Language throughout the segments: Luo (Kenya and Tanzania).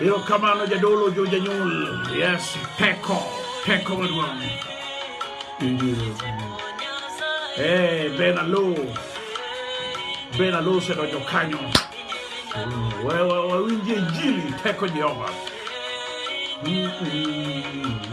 Yo kamano jadolo jo janyuol. Yes, peko, peko maduong'. Hey, eh, Ben Alo. Ben Alo osedonjo kanyo. Wawinjie injili teko Jehova. Mm-hmm.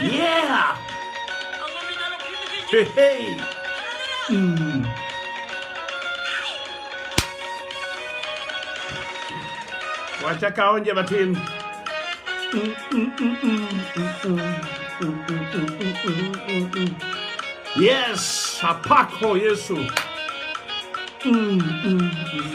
Yeah! Hey, hey! Mm. Wacha kaonje matin. Yes, apako Yesu. Mm, mm, mm.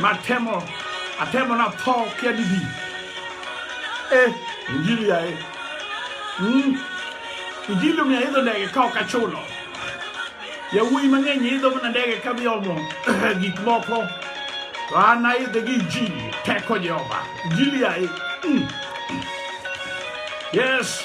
Matemo, atemo na tho kia didi. Eh, injili ya eh. Mm. Injili mi aidho ndege ka ok achulo. Yawuoyi mang'eny idho mana ndege ka biomo gik moko. To an aidhe gi injili, teko Jehova. Injili ya eh. Mm. Yes.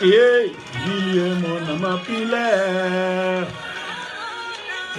Ei, Guilherme na mapilé.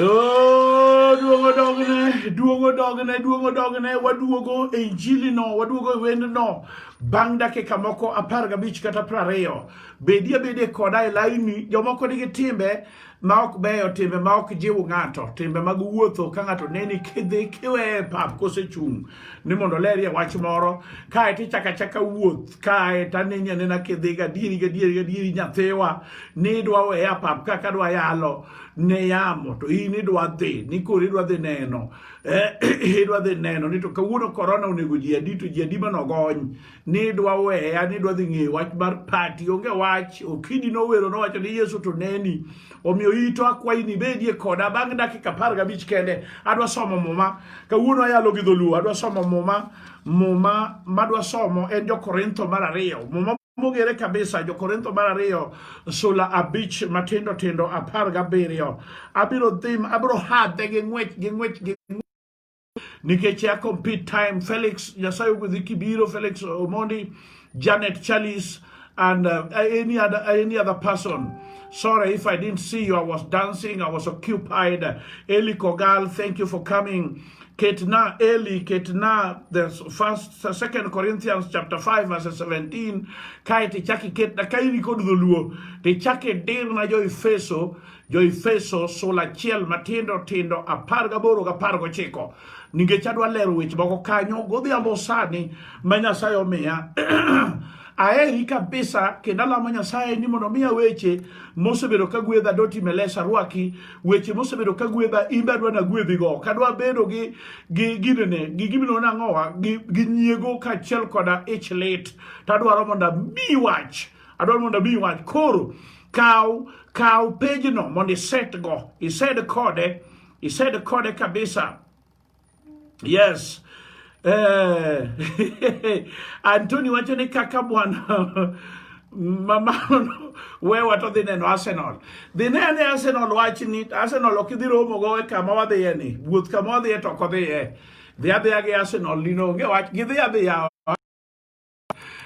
Oh, duogo dogne, duogo dogne, duogo dogne, waduogo e injili no, waduogo e wendo no. Bang' dakika moko apar gabich kata prariyo. Bedi abede koda e laini, jomoko nigi timbe ma ok beyo, timbe ma ok jiw ng'ato, timbe mag wuotho ka ng'ato neni kidhi kiweye pap kosechung' ni mondo lerie wach moro, kae to ichaka chaka wuoth, kae to aneni anena kidhi gadieri gadieri gadieri nyathiwa ni idwa weya pap kaka dwa yalo ne yamo to in idwa dhi ni koro idwa dhi neno eh, idwa dhi neno ni to kawuono korona onego ji adi to ji adi manogony ni dwa weya ni dwa dhi ng'eyo wach mar pati onge wach okidi nowero nowacho ni yesu to neni omiyo ito akwayi ni bedie koda bang' dakika apar gabich kende adwa somo muma kawuono ayalo gi dholuo adwa somo muma muma madwa somo en jokorintho mar ariyo muma mogere kabisa jokorintho mar ariyo sula abich matindo tindo apar gabiriyo abiro dhim abiro hadhe gi ng'wech gi ng'wech gi nikech ya compete time Felix Nyasaye ogwedhi kibiro Felix Omondi Janet Chalice and uh, any other any other person sorry if I didn't see you I was dancing I was occupied Eli Kogal thank you for coming Ketna Eli Ketna the first second Corinthians chapter 5 verse 17 kae tichaki ketna ka in kod dholuo tichaki dir na jo Efeso Jo-Efeso sula achiel matindo tindo apar gaboro ga apar gochiko nikech adwa lero weche moko kanyo godhiambo sani ma Nyasaye omiya aheri kabisa kendo alamo Nyasaye ni mondo miya weche mosebedo ka gwedha doti melesa rwaki weche mosebedo ka gwedha imbe adwa na gwedhi go kadwa bedo gi gi ginene gi gimino na ngowa gi, gi nyiego kaachiel koda ich lit tadwaro mondo mi wach Adwaro mondo abi wach koro kaw kaw pejno mondo iset go ised kode ised kode kabisa yes eh, Antoni wacho ni kaka bwana mamano wewa to dhi neno Arsenal dhi nene Arsenal wach ni Arsenal ok idhi romo go e kama wadhiye ni wuoth kama wadhiye to ok odhiye dhi adhiya gi Arsenal lino onge wach gidhi adhiya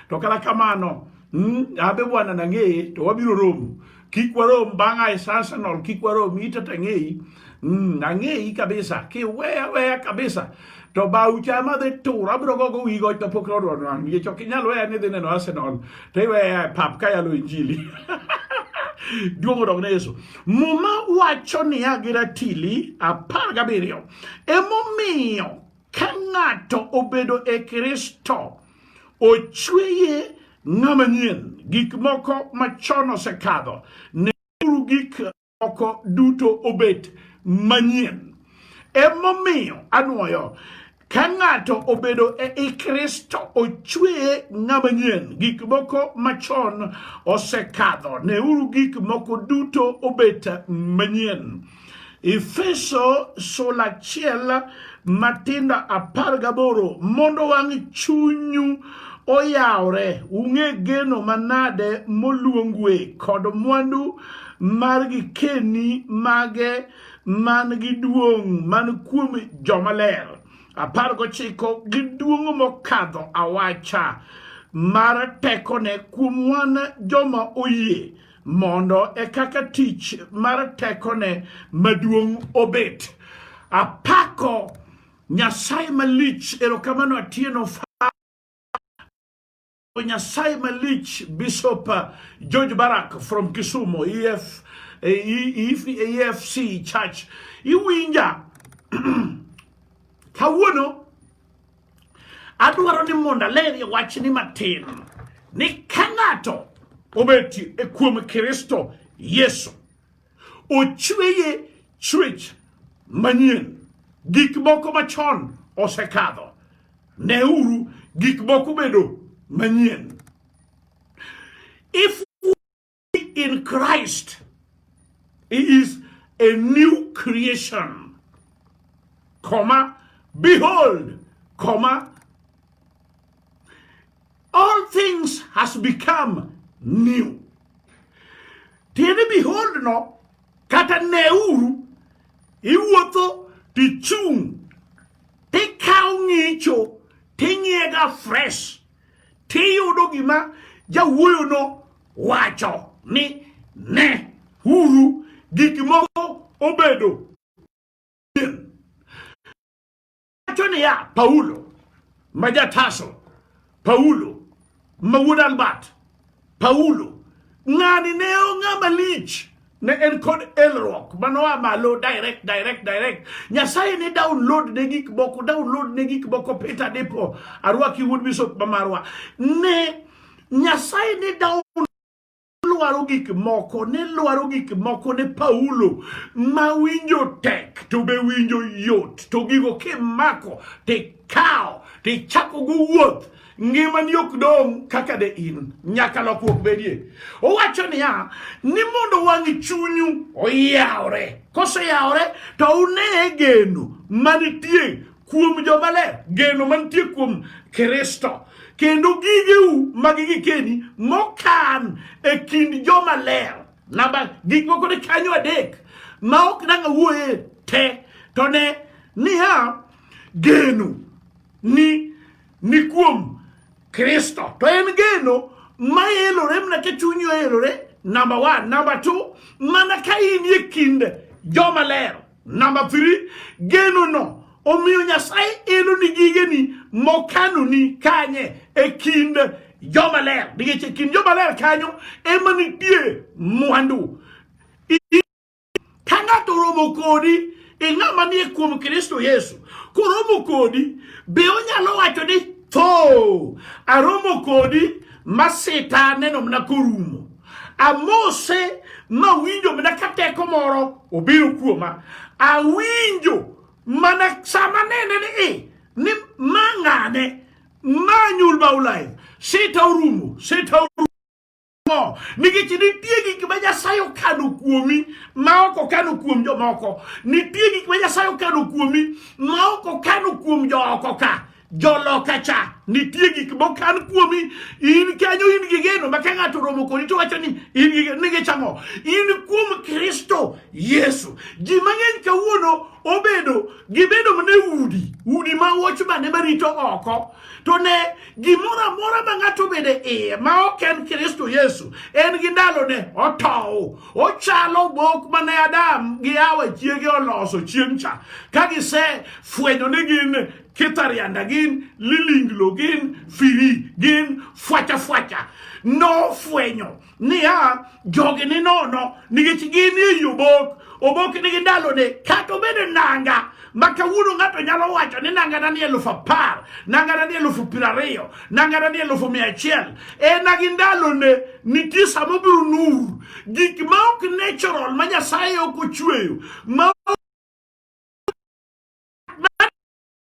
to kata kamano mm, abe bwana nang'eye to wabiro romo kik warom bang' ae sasanol kik warom ita to ang'eyi mm, ang'eyi kabisa kiweya weya kabisa to bau chama dhi tur abiro gogo wi goch kapok nodwar wang' yech ok inyal weya ni dhi neno arsenal to iweya e pap ka yalo injili duong' odog ne yesu muma wacho niya gi ratili apar gabiriyo emomiyo Ka ng'ato obedo e Kristo, ochweye ng'ama nyien, gik moko machon osekadho, neuru gik moko duto obet manyien. Emomiyo anwoyo ka ng'ato obedo e i Kristo ochweye ng'ama nyien, gik moko machon osekadho, neuru gik moko duto obet manyien. Efeso sula achiel matindo apar gaboro mondo wang' chunyu oyawre ung'e geno manade moluongue kod mwandu mar gikeni mage man gi duong' man kuom jomaler apar gochiko gi duong' mokadho awacha mar tekone kuom wan joma oyie mondo e kaka tich mar tekone maduong' obet apako nyasaye malich erokamano atieno nyasaye malich bishop george barak from kisumo ef efc e, e church iwinja kawuono Adwaro ni mondo alerie wachni matin ni ka ng'ato obeti e kuom Kristo Yesu ochweye chwech manyien, gik moko machon osekadho, neuru gik moko bedo manyien. If in Christ. He is a new creation. Comma, behold, comma, all things has become new. Tiende behold no, kata neuru, iwuotho tichung' tikawo ng'icho ting'iega fresh tiyudo gima jawuoyono wacho ni ne uru gik moko obedo wacho niya paulo ma jataso paulo ma wuod albert Paulo, ng'ani ne ong'a malich ne en kod elruok manoa malo direct direct direct nyasaye ne download ne gik moko download ne gik moko peter depo arwaki wuod bishop mamarwa ne nyasaye ne download lwaro gik moko ne lwaro gik moko ne paulo ma winjo tek to be winjo yot to gigo kimako tikawo tichako go wuoth ngimani ok dong' kaka de in, nyaka lokruok bedie. Owacho niya ni mondo wang' chunyu oyawre, koseyawre to une geno manitie kuom jomaler, geno manitie kuom Kristo kendo gigeu mag gikeni mokan e kind jomaler. Namba gik moko ni kanyo adek ma ok dang' awuoye te to ne niya geno ni ni kuom Kristo. To en geno ma elore mana ka chunyi oelore, namba one. Namba two, mana ka in e kind joma ler. Namba three, genono omiyo Nyasaye elo ni gigeni mokanoni kanye e kind joma ler. Nikech e kind joma ler kanyo ema nitie mwandu. Ka ng'ato oromo kodi e ng'ama nie kuom Kristo Yesu koromo kodi be onyalo wacho ni tho aromo kodi masita neno mana korumo amose mawinjo mana ka teko moro obiro kuoma awinjo mana sama nene ni i ni mang'ane manyul baulai sita orumo sita orumo mo nikech nitie gik ma Nyasaye okano kuomi ma ok okano kuom jomoko. Nitie gik ma Nyasaye okano kuomi ma ok okano kuom jooko ka joloka cha nitie gik mokan kuomi in kanyo in gi geno ma ka ng'ato romo kodi to wacho ni in gi geno nige chang'o in kuom kristo yesu ji mang'eny kawuono obedo gibedo mana udi udi ma wochmane marito oko To ne, gimoro amora ma ng'ato bede iye ma ok en Kristo Yesu, en gi ndalone otow. Ochalo bok mane Adam gi Hawa chiege oloso chieng' cha, ka gise fwenyo ni gin kitarianda gin lilinglo gin firi gin fwacha fwacha nofwenyo niya, jogi ni nono nikech gin e obok, obok nigi ndalone. Kata obedo nanga ma kawuono ng'ato nyalo wacho ni nangana ni elufu apar, nangana ni elufu piero ariyo, nangana ni elufu mia achiel. En agi ndalone, nitie sama obiro nur. Gik ma ok natural ma Nyasaye ok ochweyo ma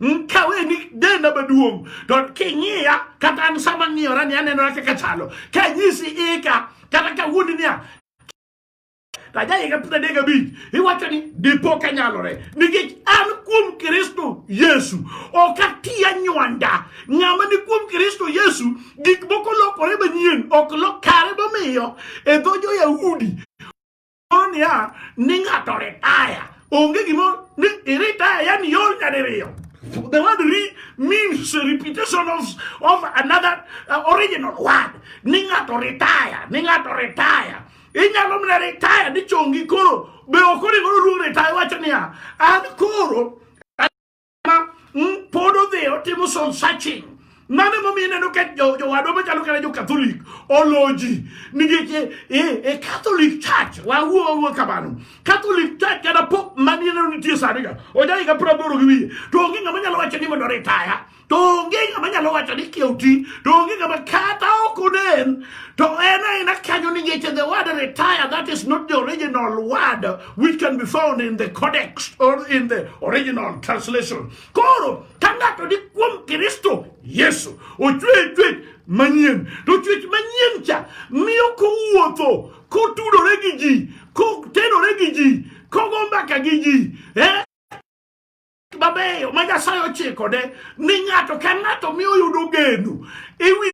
nkawe ni denda maduong' to king'iya kata an sama ng'iyora ni anenora kaka chalo ka nyisi ika kata ka wuondi niya tajaika putadek abich iwacho ni dipo ka nyalore nikech an kuom kristo yesu ok atiya nywanda ng'ama ni kuom kristo yesu gik moko lokore manyien ok lokare momiyo e dho jo-yahudi niya ni ng'ato retire onge gimo ni iretire yani yor nyadiriyo the word re means repetition of, of another uh, original word ni ng'ato retire ni ng'ato retire inyalo mana retire ni chongi koro be ok onego oluong retire wacho niya an koro pod odhi otimo soul searching mano emomiyo ineno ka jowadwa machalo kata jokatholik oloji nikech e, e, e catholic church wawuowo kamano catholic church kata pop manineno nitie saniga ojahiga praboro gi wiye to onge ng'ama nyalo wacho ni mondo ritaya to onge ng'ama nyalo wacho ni kioti to onge ng'ama kata ok onen to en aena kanyo nikech the word retire that is not the original word which can be found in the codex or in the original translation koro ka ng'ato ni kuom kristo yesu ochwe chwech manyien to chwech manyien cha miyo kowuotho kotudore gi ji kotenore gi ji kogo mbaka gi ji eh? mabeyo ma nyasaye ochikode ni ng'ato ka ng'ato miyo yudo geno ewi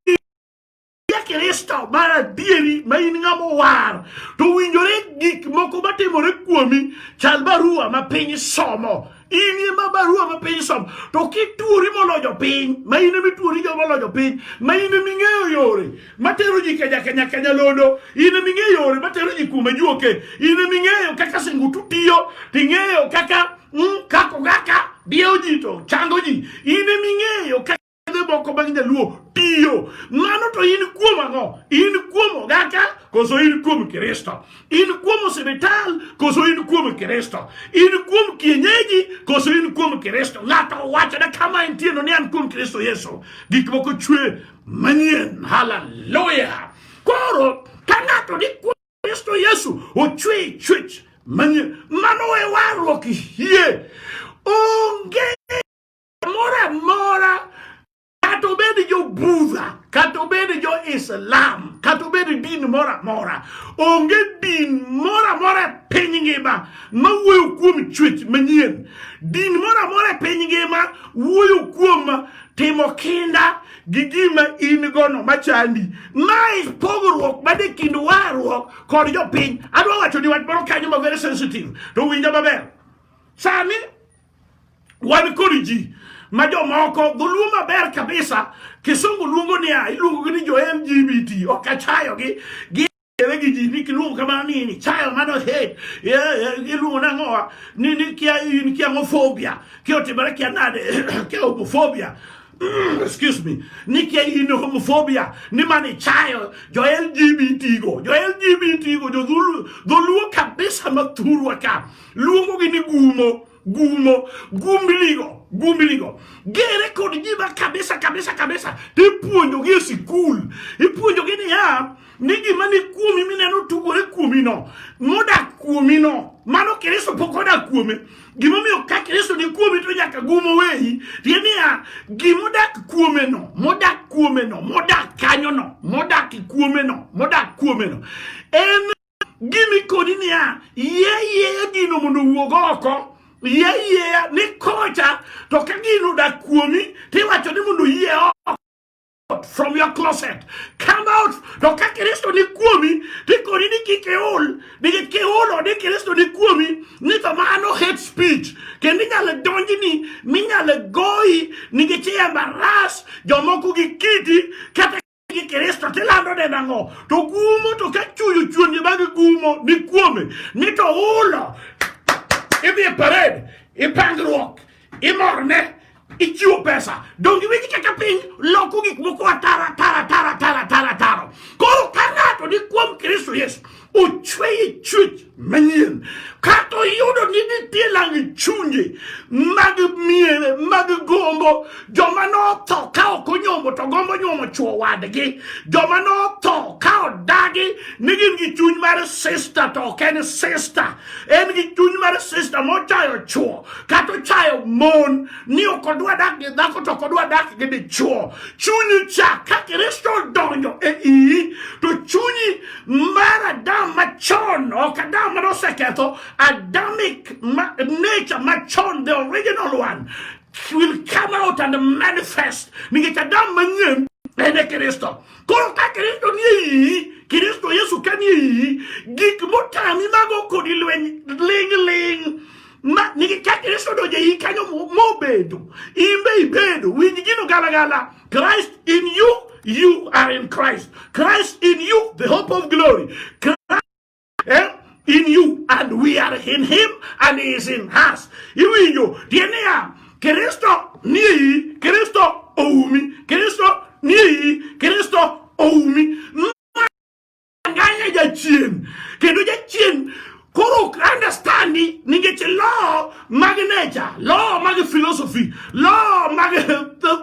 Yesu Kristo mar adieri ma in ng'ama owar to winjore gik moko matimore kuomi chal barua ma piny somo in ema barua ma piny somo to kituori molojo piny ma in ema ituori joma olojo piny ma in ema ing'eyo yore matero ji kenya kenya kenya londo in ema ing'eyo yore matero ji kuma juoke in ema ing'eyo kaka singutu tiyo to ing'eyo kaka mm, kako kaka diewo ji to chango ji in ema ing'eyo kaka yedhe moko mag nyaluo tiyo. Mano to in kuom ang'o? In kuom ogaka koso in kuom Kristo? In kuom osiptal koso in kuom Kristo? In kuom kienyeji koso in kuom Kristo? Ng'ato wachone kama entie no ni an kuom Kristo Yesu. Gik moko chwe manyien. Haleluya! Koro ka ng'ato ni kuom Kristo Yesu ochwe chwech manyien, mano e warruok hie onge Kamoro amora kata obed jo Budha, kata obed jo Islam, kata obed din moro amora, onge din moro amora e piny ngima ma wuoyo kuom chwech manyien. Din moro amora e piny ngima wuoyo kuom timo kinda gi gima in gono machandi. Mae pogruok man e kind warruok kod jopiny. Adwa wacho ni wach moro kanyo ma very sensitive, to winja maber. Sani wan kod ji ma jomoko dholuo maber kabisa kisungu luongo niya iluongogi ni jo lgbt ok achayogi gi ewe gi ji ni kiluongo kamano ni ni chayo mano hate iluongo nang'owa ni ni kia in kia homophobia kia otimore kia nade kia homophobia Mm, excuse me ni kia in homophobia ni mani chayo jo lgbt go jo lgbt go jo dhulu- dholuo kabisa ma thurwa ka luongo gi ni gumo gumo gumbiligo gumbiligo gere kod jima kabisa kabisa kabisa tipuonjogi e sikul ipuonjogi niya ni gima ni kuomi mineno tugore kuomino modak kuomino mano kristo pok odak kuome gimomiyo ka kristo ni kuomi to nyaka gumo weyi tie niya gimodak kuomeno modak kuomeno modak kanyono modak kuomeno modak kuomeno en gini kodi niya yie yieya gino mondo owuog oko yie yieya ni kocha to ka gino odak kuomi tiwacho ni mondo yie oko from your closet. Come out. No ka Kristo ni kuomi, di koni ni ki keol, di ki keol o di Kristo ni kuomi, ni to mano hate speech. Ke ni nyale donji ni, ni nyale goi, ni ki chiya maras, jomoku ki kiti, kata gi Kristo tilando ne nang'o to gumo to ka chuyo chuonye bang' gumo ni kuome ni to ulo idhi e parade ipangruok imorne ichiwo pesa donge winji kaka piny loko gik moko atara tara tara tara tara taro koro ka ng'ato ni kuom Kristo Yesu ochwe e chwech manyien kata oyudo ni nitie lang chunje mag miere mag gombo joma notho ka ok onyombo to gombo nyuomo chuo wadgi joma notho ka odagi ni gin gi chuny mar sister to ok en sister en gi chuny mar sister mochayo chuo kata ochayo mon ni ok odwa dak gi dhako to ok odwa dak gi dichuo chunyi cha ka kristo odonjo e iyi to chunyi mar Adam machon, ok Adam mane oseketho, Adamic ma, nature machon, the original one, will come out and manifest. Nikech Adam manyien en e Kristo. Koro ka Kristo nie iyi, Kristo Yesu ka nie iyi, gik motami mago kodi lweny ling ling. Ma nikech ka Kristo donjo e iyi kanyo mobedo, in be ibedo, winj gino galagala. Christ in you, you are in Christ. Christ in you, the hope of glory. Christ, eh? in you and we are in him and he is in us. Iwinjo tiende ya Kristo ni iyi, Kristo oumi, Kristo ni iyi, Kristo oumi. Anganya jachien kendo jachien koro ok understand ni nikech law mag nature law mag philosophy law mag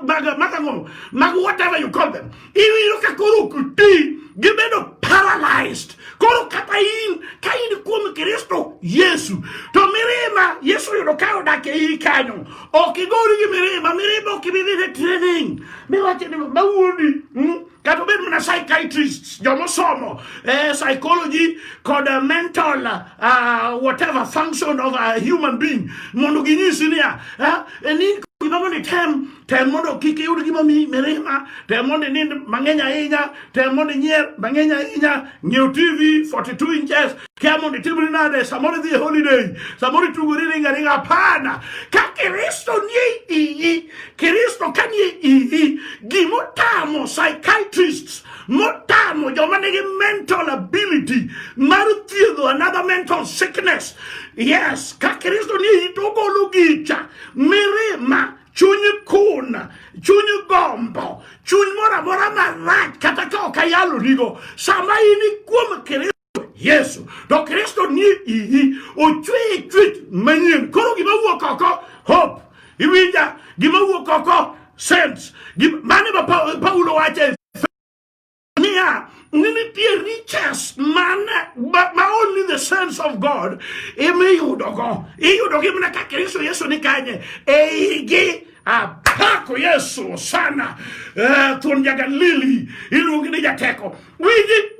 mag mag ang'o mag whatever you call them iwinjo ka koro ok ti gibedo paralyzed koro kata in ka in kuom kristo yesu to mirima yesu yudo ka odak e iyi kanyo ok igori gi mirima mirima ok ibi dhi ne training miwacho ni mawuondi mm? kata obed mana psychiatrist jomosomo eh, psychology kod uh, mental uh, whatever function of a human being mondo ginyisi niya eh, ni gima mondo item tem mondo kik iyud gima mi mirima tem mondo inind mang'eny ahinya tem mondo inyier mang'eny ahinya ng'iew tv 42 inches kia mondo itimri nade samoro idhi e holiday samoro itugori ringa ringa hapana ka kristo nie iyi kristo ka nie iyi gimotamo psychiatrists motamo joma nigi mental ability mar thiedho another mental sickness yes ka kristo nie iyi to ogolo gicha mirima chuny kun chuny gombo chuny moro amora marach kata ka ok ayalonigo sama in kuom kristo Yesu. To Kristo ni iyi, ochweye chwech manyien. Koro gima wuok oko, hope. Iwinja, gima wuok oko, sense. Mane ma Paulo wache niya, ni nitie riches man ma only the sense of God ema iyudogo. Iyudogi mana ka Kristo Yesu ni kanye, eigi apako Yesu sana. Uh, thuon ja Galili iluongi ni jateko. Winji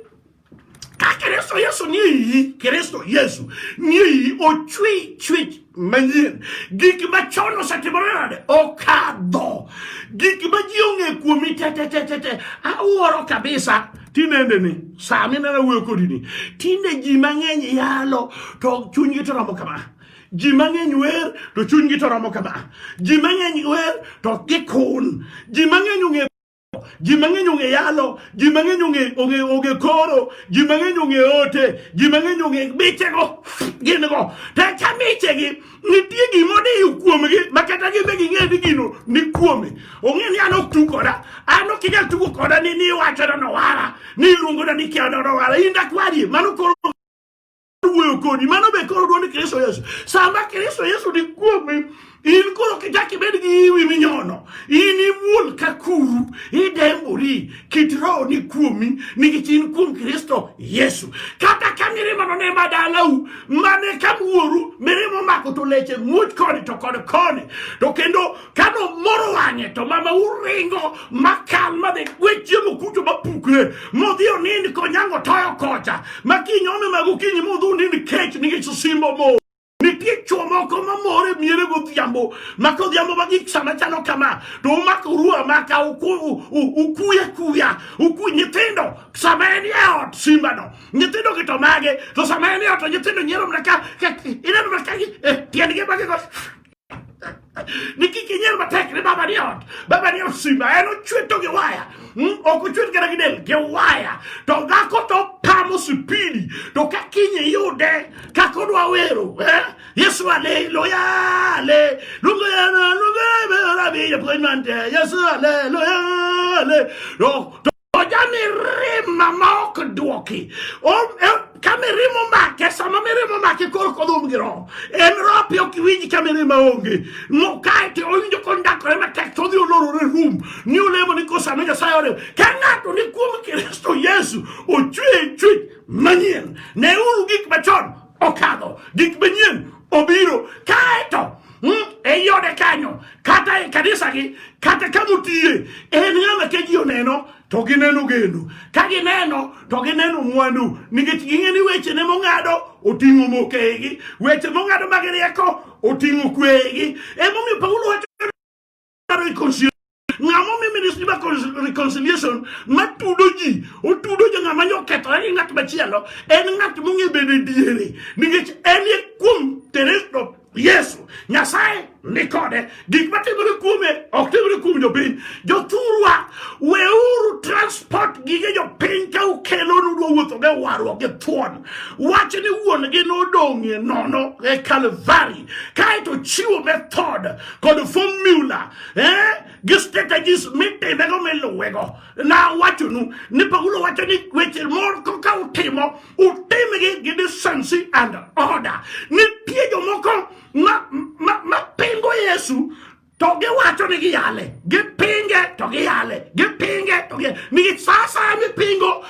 Ka Kristo Yesu nie iyi, Kristo Yesu nie iyi, ochwe chwech manyien. Gik machon osetimore nade? Okadho. Gik ma ji ong'e kuomi te te te te te. Awuoro kabisa tinende ni saa minena wuoyo kodi ni tinde ji mang'eny yalo to chunygi to romo kama ji mang'eny wer to chunygi to romo kama ji mang'eny wer to gikun ji mang'eny ong'e ji mang'eny ong'e yalo ji mang'eny ong'e ong'e ong'e koro ji mang'eny ong'e ote ji mang'eny ong'e michego gin go to ka michegi nitie gima odiyo kuomgi ma kata gin be ging'e ni gino ni kuome ong'e ni an ok tu koda an ok inyal tugo koda ni ni iwachona nowara ni iluongona ni kiana nowara in dakwarie mano koro wuoyo kodi mano be koro duond kristo yesu sama kristo yesu ni kuomi in koro kichak ibed gi iwi minyono in imuol ka kuru idembori kit roho ni kuomi nikech in kuom kristo yesu kata ka mirimano ne ma dalau mane ka wuoru mirimo mako to leche muoch koni to kod koni to kendo ka nomoro wang'e to mama uringo makal madhi gwe chiemo kucho mapukre modhi onind konyango toyo kocha ma kiny ome mag okinyi modhi onind kech nikech osimbo mo nitie chuo moko mamore miere godhiambo ma kodhiambo ma gik sama chalo kama to umako uru amaka ukuya kuya uku nyithindo sama en e ot simbano nyithindo gi to mage to sama en e ot to nyithindo nyiero mana ka ineno mana ka eh, tiendgi magigo nikikinyel matek ni baba ni ot baba ni osimba en ochwe to gi waya hmm? ok ochwe kata gi del gi waya to dhako to pamo sipidi to ka kinye yude kaka odwa wero eh? yesu ale loya ale lungana lungana rabi japuonj mante yesu ale loya ale Oja mirima ma ok dwoki. E, ka mirima omake, sama mirima omake koro kodhum gi roho. En roho pi ok winj ka mirima onge. Mokae to owinjo kondakore matek to odhi olorore rum. Ni olemo ni kosame Nyasaye orem. Ka ng'ato ni kuom Kristo Yesu ochwe chwech manyien. Neuru gik machon okadho, gik manyien obiro, kaeto hmm, ei ode kanyo kata e kanisagi kata ka motiye en ng'ama ka ji oneno to gineno gendo ka gineno to gineno mwandu nikech ging'e ni weche ne mong'ado oting'o mokegi weche mong'ado mag rieko oting'o kwegi emomiyo paulo wacho reconciliation ng'ama omi ministry mar reconciliation matudo ji otudo jo ng'ama nyo okethore gi ng'at machielo en ng'at mong'e bedo e diere nikech en e kuom teresto yesu nyasaye ni kode gik matimore kuome ok timore kuom jopiny jothurwa weuru transport gige jopiny ka ukelo nudwa wuotho ge warruok gi thuon wach ni wuon gi nodong'ie nono e kalvari kaeto chiwo method kod formula eh? gi strategies mitimego miluwego nawachonu ni paulo wacho ni weche moko ka utimo utimgi gi decency and order nitie jomoko mapingo ma, ma yesu to giwacho ni giyale gipinge to giyale gipinge to giyale nikech sasa mipingo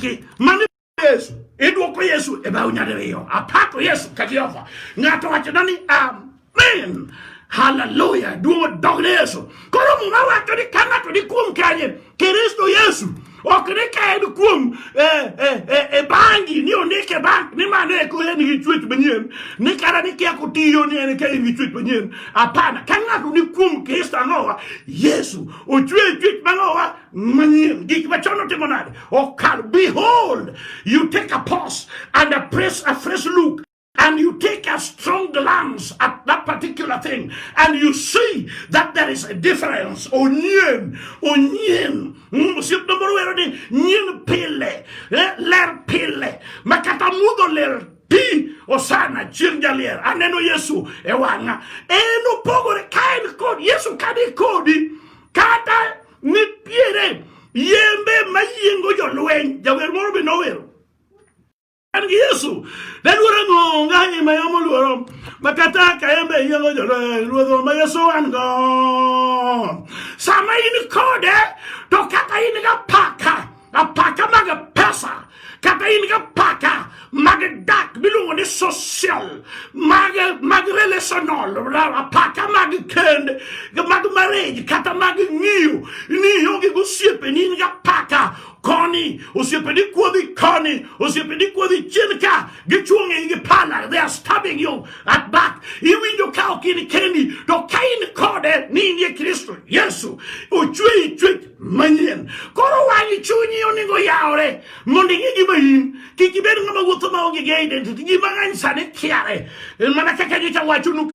gi mani Yesu idwoko Yesu e bao nyadiriyo apako Yesu ka Jehova ng'ato wachona ni amen haleluya duong' odog ne Yesu koro muma wacho ni ka ng'ato ni kuom kanye Kristo Yesu ok ni ka en kuom e, e, e, e bangi ni ondik e bank ni mano eko en gi chuech manyien ni kata ni kia kotiyo ni en ka en gi chuech manyien hapana ka ng'ato ni kuom Kristo ang'owa Yesu ochwe chuech mang'owa manyien gik machon otimo nade okal behold you take a pause and a press a fresh look and you take a strong glance at that particular thing and you see that there is a difference onyen onyen hmm, siep no moro wero ni nyen pile eh, ler pile makata mudho ler ti osana chieng' jalier aneno yesu e wang'a en opogore ka en kod yesu kani kodi kata nitiere yembe mayiengo jolweny jawer moro be nowero an gi yesu naluoro ng'onga e ma yamo luoro makata ka yembe yiengo jolweny ruodho ma yesu an go sama in kode to kata in ga paka Apaka mag pesa kata in ga paka mag dak miluongo ni social mag mag relational apaka mag kend mag marriage kata mag ng'iyo ni ionge gosiepe ni in ga paka koni osiepeni kuodhi koni osiepeni kuodhi chien ka gichwong'e gi pala they are stabbing you at back iwinjo ka ok in kendi to ka in kode ni in ye kristo yesu ochweyi chwech manyien. Koro wang' chunyi onego yawre mondo ing'e gima in kik ibed ng'ama wuotho ma onge gi identity. Ji mang'eny sani kiare eh, mana kaka nyocha wachonu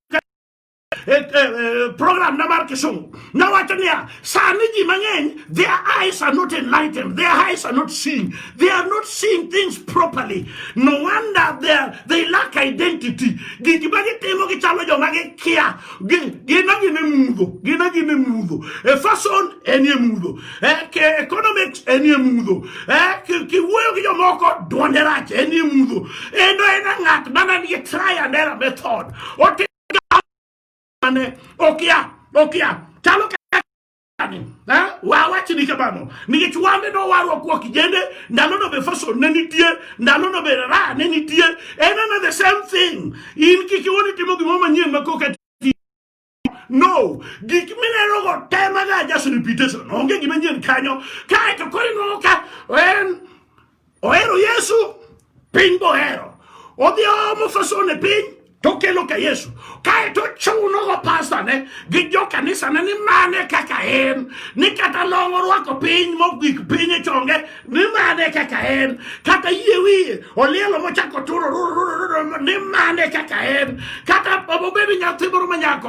eh, eh, program na mar Kisumu nawacho niya sani ji mang'eny their eyes are not enlightened their eyes are not seeing they are not seeing things properly no wonder they, are, they lack identity gik ma gitimo gichalo joma gikia gin agina e mudho gin agina e mudho e fason enie mudho e economics enie mudho e kiwuoyo gi jomoko duonde rach enie mudho endo en ng'at mana nigi try and error method otimane okia okia chalo wawachi ni kamano nikech wande no warwa kwa kijende ndalo no be faso ne nitie ndalo no be ra ne nitie en ana the same thing in kik iwoni timo gimoro manyien ma koka no gik mineno go temaga just repetition onge gima nyien kanyo kaeto koro inwang'o ka en Ohero Yesu, piny bohero. Odhi oomo fasone piny tokelo ka Yesu kae to chuno go pastane gi jo kanisane ni mane kaka en ni kata long orwako piny mogik piny e chonge ni mane kaka en kata yie wiye olielo mochako turo ni mane kaka en kata obedo nyathi moro manyako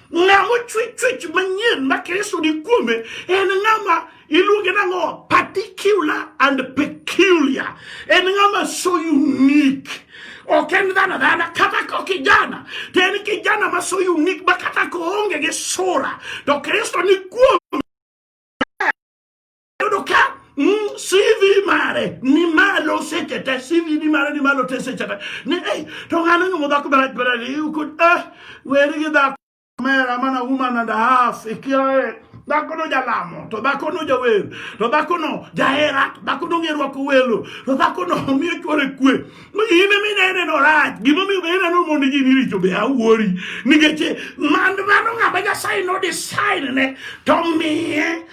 Ng'a mochwe chwech manyien ma Kristo ni kuome en ng'ama iluonge nang'o? Particular and peculiar. En ng'ama so unique. Ok en dhano dhana kata ko kijana to en kijana ma so unique ma kata ko onge gi sura to Kristo ni kuome Yudo ka mm, CV mare ni malo sechete CV ni mare ni malo te sechete ni ei to ng'ano nyumo dhako barach barach you could eh weri gi dhako mera mana woman and a half ikiae dhako no jalamo to dhako no jawer to dhako no jahera to dhako no ng'e rwako welo to dhako no miyo chwore kwe in ema inene no rach gimomiyo be ineno mondo ji ni richo be awuori nikech man mano ng'ama nyasaye no design ne to miye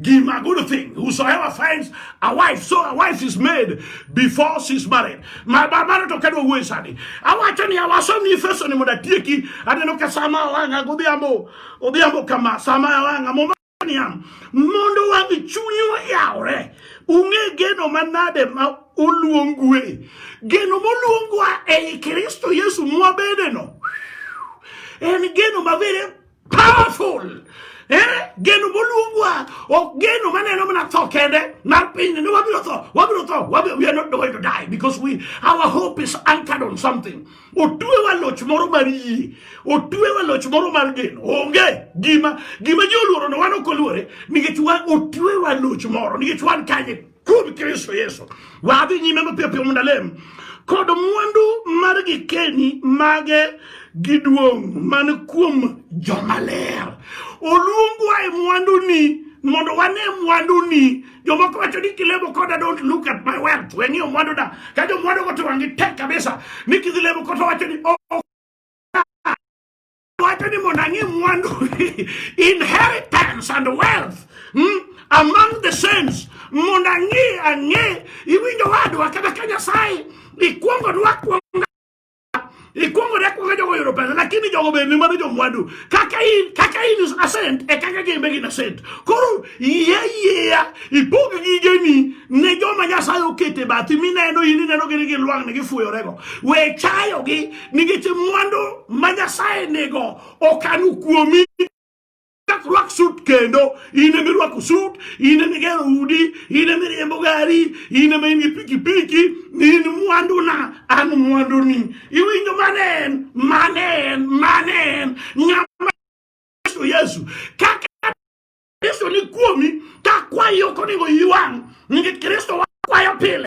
Give a good thing. Whosoever finds a wife, so a wife is made before she's married. My baba to kedwa wuoyi sani. Awacho ni awaso ni Efeso ni mondo atieki. Aneno ka sama awang'a godhiambo. Odhiambo kama sama awang'a mondo niam. Mondo wang' chunywa yawre. Ung'e geno manade ma oluongue. Geno moluongwa ei Kristo Yesu mwabedeno. En geno mabere Powerful. Eh, geno moluongwa ok geno maneno mana tho kende mar pinyni ni wabiro tho wabiro tho wabiro, we are not going to die because we our hope is anchored on something otuewa loch moro mar yie otuewa loch moro mar geno onge gima gima ji oluorono wan ok oluore nikech wan otuewa loch moro nikech wan kanye Kuom Kristo Yesu, wadhi nyime mapiyo piyo mondo alem kod mwandu mar gikeni mage gi duong' man kuom jomaler. Oluongwa e mwanduni mondo wane mwanduni. Jomoko wacho ni kilemo koda don't look at my wealth, weng'iyo mwanduda. Ka jomwandugo to wang'gi tek kabisa ni kidhi lemo koto wacho ni oh, Wacho ni mondo ang'e mwandu inheritance and wealth hmm? among the saints mondo ang'e ang'e iwinjo wadwa kata ka Nyasaye ikwongo nwakwonga ikwongo nakwonga jogo yudo pesa lakini jogo bende mano jomwandu kaka in kaka in is ascent e kaka gin be gin ascent koro yie yieya ipog gigeni ne joma Nyasaye okete bathi mineno in ineno gini gin lwang'ni gifuyorego we chayogi nikech mwandu ma Nyasaye nigo okanu kuomi rwak sut kendo in emi rwako sut in emi gero udi in emi riembo gari in emi in gi pikipiki in mwanduna an mwanduni iwinjo mane en mane en mane en ng'ama yesu yesu kaka kristo ni kuomi ka kwayi ok onego iwang' nikech kristo wakwayo pile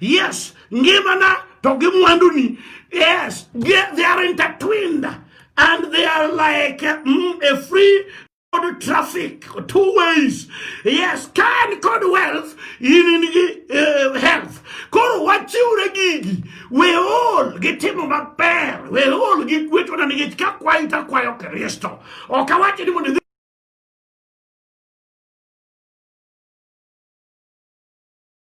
Yes, ngimana to gi mwanduni. Yes, they are intertwined and they are like mm, a free road traffic, two ways. Yes, can code wealth in, in uh, health. Koro wachiwre gigi, we all gitimo maber, we all gigweto na nikech ka kwayo to akwayo Kristo. Ok awachi ni mondo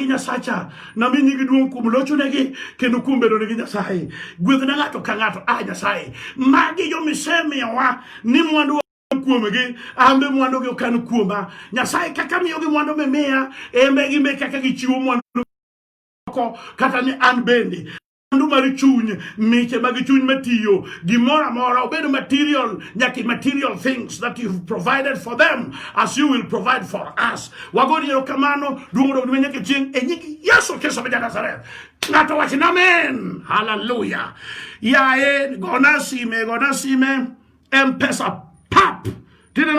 gi Nyasacha, nami nyingi duong' kuom lochonegi kendo kuom bedonegi Nyasaye. Gwedhna ng'ato ka ng'ato, a ah, Nyasaye, magi jo misemiyowa ni mwandu kuomgi ambe mwandu gi okan kuoma nyasaye kaka miyo gi mwandu mimiya embe gimbe kaka gichiwo mwandu kata ni an bende mwandu mar chuny miche mag chuny matiyo gimoro amora obed material nyaka material things that you've provided for them as you will provide for us wagoni erokamano duong' odog ne nyaka chieng' e nying yesu kristo ma janazareth ng'ato wach na amen haleluya yaye gona sime gona sime mpesa pap tineno